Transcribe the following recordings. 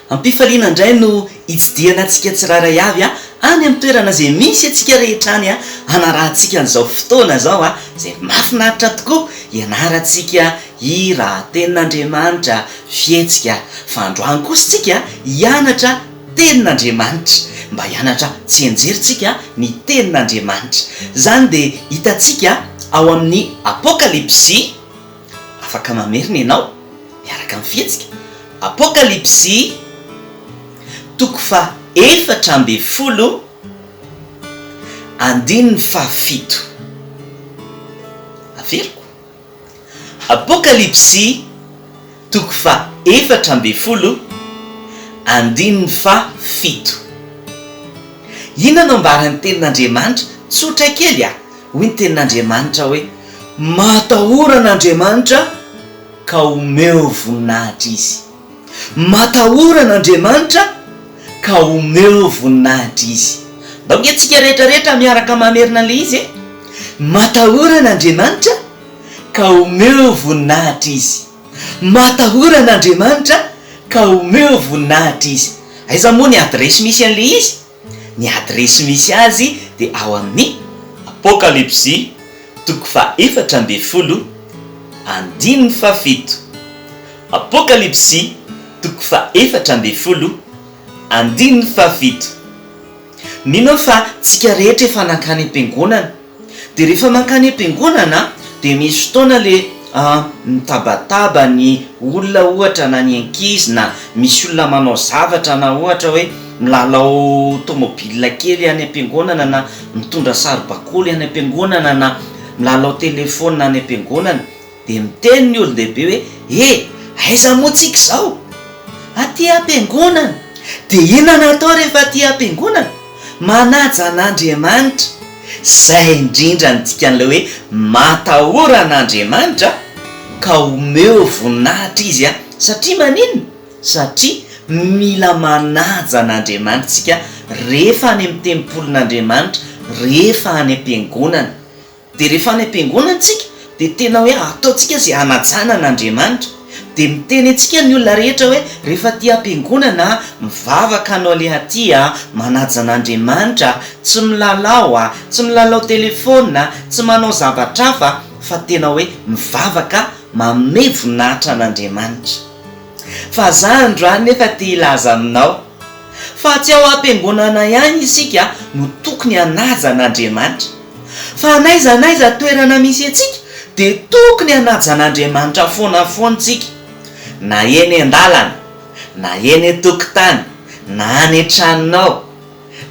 Am-pifaliana indray no hitsidihana antsika tsirairay avy any amin'ny toerana izay misy antsika rehetra any hanarahantsika an'izao fotoana izao izay mahafinaritra tokoa hianarantsika hira, tenin'Andriamanitra, fihetsika. Fa androany kosa isika hianatra tenin'Andriamanitra. Mba hianatra tsianjery isika ny tenin'Andriamanitra. Izany dia hitantsika ao amin'ny Apokalypsy. Afaka mamerina ianao miaraka amin'ny fihetsika Apokalypsy toko faha efatra ambin'ny folo andininy faha fito. Averiko, Apokalypsy toko faha efatra ambin'ny folo andininy faha fito. Inona no ambaran'ny Tenin'Andriamanitra? Tsotra kely a! Hoy ny tenin'Andriamanitra hoe, Matahorana Andriamanitra ka omeo voninahitra Izy. Matahorana Andriamanitra ka omeo voninahitra Izy. Ndao nge tsika rehetra rehetra miaraka mamerina an'ilay izy e! Matahorana Andriamanitra ka omeo voninahitra Izy. Matahorana Andriamanitra ka omeo voninahitra Izy. Aiza moa ny adiresy misy an'ilay izy? Ny adiresy misy azy dia ao amin'ny Apokalypsy toko fahefatra ambin'ny folo andininy fahafito Apokalypsy toko fahefatra ambin'ny folo andininy fahafito Mino aho fa tsika rehetra efa nankany am-piangonana De rehefa mankany am-piangonana de misy fotoana le mitabataba ny olona ohatra na ny ankizy na misy olona manao zavatra na ohatra hoe milalao tomobile kely any am-piangonana na mitondra saribakoly any am-piangonana na milalao telephone any am-piangonana Dia miteny ny olon-dehibe hoe, E! aiza moa tsika izao? Aty am-piangonana! Dia inona no atao rehefa aty am-piangonana? Manaja an'Andriamanitra! Izay indrindra no dikan'ilay hoe matahora an'Andriamanitra ka omeo voninahitra Izy an! Satria maninona? Satria mila manaja an'Andriamanitra isika rehefa any amin'ny tempolin'Andriamanitra, rehefa any am-piangonana. Dia rehefa any am-piangonana isika dia tena hoe ataontsika izay hanajana an' Andriamanitra. Dia miteny antsika ny olona rehetra hoe rehefa aty am-piangonana a, mivavaka anao aleha aty a, manaja an' Andriamanitra, tsy milalao a, tsy milalao telefaonina, tsy manao zavatra hafa fa tena hoe mivavaka, manome voninahitra an' Andriamanitra. Fa za androany nefa te hilaza aminao fa tsy ao am-piangonana ihany isika no tokony hanaja an'Andriamanitra fa n'aiza n'aiza toerana misy antsika dia tokony hanaja an'Andriamanitra foana foantsika na eny an-dalana na eny an-tokotany na any an-tranonao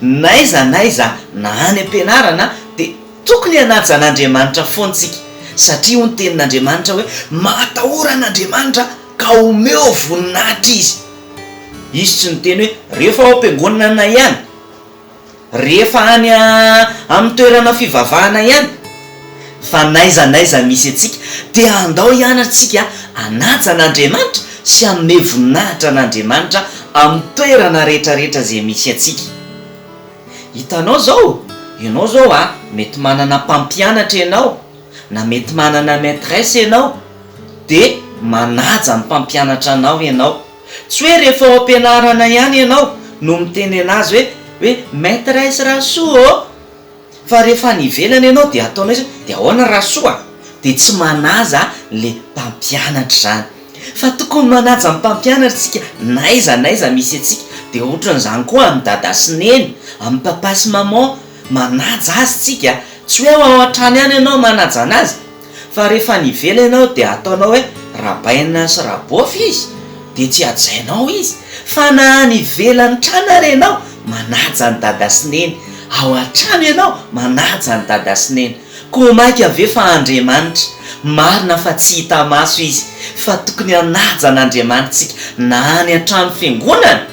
N'aiza n'aiza na any am-pianarana dia tokony hanaja an'Andriamanitra foana isika satria hoy ny tenin'Andriamanitra hoe mahatahora an'Andriamanitra ka omeo voninahitra izy. Izy tsy niteny hoe rehefa ao am-piangonana ihany, rehefa any amin'ny toerana fivavahana ihany. fa n'aiza n'aiza misy antsika dia andao ihany antsika hanaja an'Andriamanitra sy hanome voninahitra an'Andriamanitra amin'ny toerana rehetrarehetra izay misy antsika. Hitanao izao, ianao izao a, mety manana mpampianatra ianao, na mety manana maîtresse ianao, dia manaja ny mpampianatra anao ianao. Tsy hoe rehefa ao am-pianarana ihany ianao no mitenena azy hoe hoe maîtresse Rasoa ô! Fa rehefa any ivelany ianao dia ataonao izany dia ahoana raha soa? Dia tsy manaja le mpampianatra izany. Fa tokony manaja ny mpampianatra isika n'aiza n'aiza misy antsika. Dia ohatran'izany koa amin'i Dada sy Neny, amin'i Papa sy Maman, manaja azy isika. Tsy hoe ao an-trano ihany ianao manaja anazy. Fa rehefa any ivelany ianao dia ataonao hoe rabaina sy rabofy izy dia tsy hajainao izy, fa na any ivelany trano ary ianao manaja an'i dada sy neny, ao antrano ianao manaja an'i dada sy neny, koa maika ve fa Andriamanitra, marina fa tsy hita maso izy, fa tokony hanaja an'Andriamanitra isika na any antrano fiangonana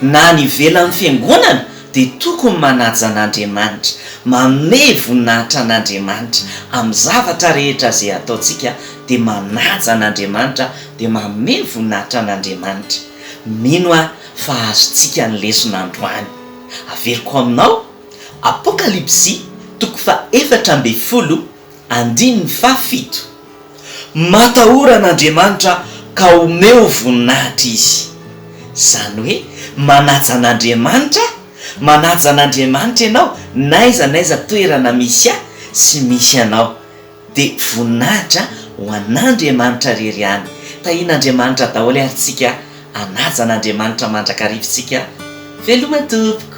na any ivelan'ny fiangonana, dia tokony manaja an'Andriamanitra, manome voninahitra an'Andriamanitra amin'ny zavatra rehetra izay ataontsika, dia manaja an'Andriamanitra, dia manome voninahitra an'Andriamanitra. Mino aho fa azontsika ny lesona androany. Averiko aminao, Apokalypsy toko faha efatra ambin'ny folo, Andininy faha fito, Matahora an'Andriamanitra ka omeo voninahitra Izy. Izany hoe manaja an'Andriamanitra, manaja an'Andriamanitra ianao n'aiza n'aiza toerana misy ahy sy misy anao. Dia voninahitra ho an'Andriamanitra rery ihany. Tahian'Andriamanitra daholo ary tsika, anaja an'Andriamanitra mandrakariva tsika veloma tompoko.